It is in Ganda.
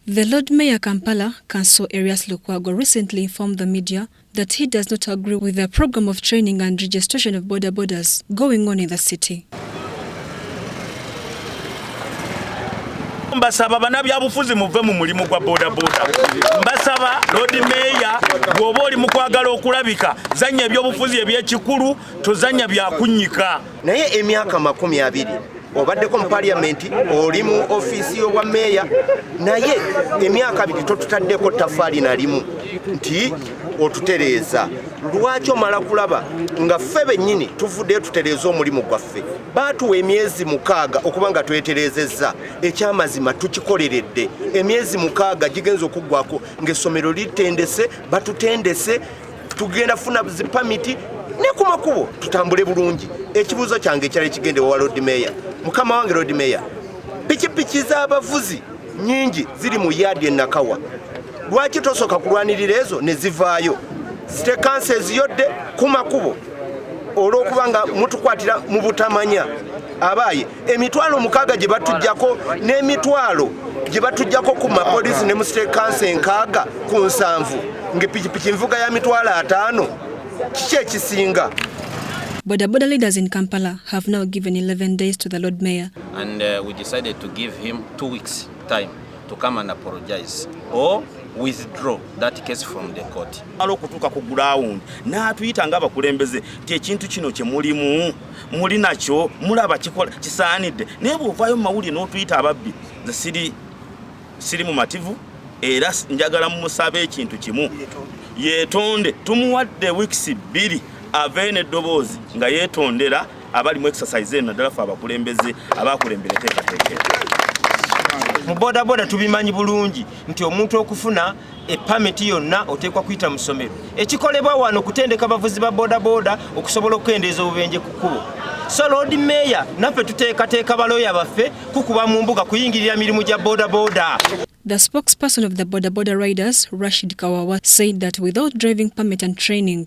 The Lord Mayor Kampala, Council Erias Lukwago recently informed the media that he does not agree with the program of training and registration of border borders going on in the city. mbasaba banabyabufuzi muve mu mulimu gwa bodaboda mbasaba lodi meeya bw'oba oli mu kwagala okulabika zanya ebyobufuzi ebyekikulu tozanya byakunyika naye emyaka makumi abiri obaddeko mu paliyamenti oli mu ofiisi y'obwa meeya naye emyaka abiri totutaddeko tafaali nalimu nti otutereeza lwaki omala kulaba nga ffe bennyini tuvuddeyo tutereeza omulimu gwaffe baatuwa emyezi mukaaga okuba nga twetereezezza ekyamazima tukikoleredde emyezi mukaaga gigenza okuggwako ng'essomero litendese batutendese tugenda funa zipamiti ne ku makubo tutambule bulungi ekibuuzo kyange ekyali kigende wa lord mayor mukama wange lord mayor pikipiki z'abavuzi nyingi ziri mu yaadi enakawa lwaki tosooka kulwanirira ezo ne zivaayo sitekansa eziyodde ku makubo olw'okuba nga mutukwatira mu butamanya abaaye emitwalo mukaaga gye batujjako n'emitwalo gye batujjako ku mapoliisi ne mu state council enkaaga ku nsanvu ng'epikipiki nvuga ya mitwalo ataano kiki ekisinga Bodaboda leaders in Kampala have now given 11 days to the Lord Mayor. And uh, we decided to give him two weeks time to come and apologize or withdraw that case from the court. Alo kutuka ku ground. Na tuita ngaba kulembeze. Tie chintu chino chemulimu. muli nakyo mulaba kikola kisaanidde naye bwovaayo mu mawulire n'otuyita ababbi nze siri siri mumativu era njagala mumusaba ekintu kimu yetonde tumuwadde wiikisi bbiri avee neddoboozi nga yetondera abali mu exercise eno naddala fe abakulembeze abakulembera eteekateekera mu bodaboda tubimanyi bulungi nti omuntu okufuna epamiti yonna oteekwa kuyita mu ssomero ekikolebwa wano okutendeka abavuzi ba bodaboda okusobola okukendeeza obubenje ku kkubo so lord mayor naffe tuteekateeka balooya baffe kukuba mu mbuga kuyingirira mirimu gya bodaboda The spokesperson of the Boda Boda Riders, Rashid Kawawa, said that without driving permit and training,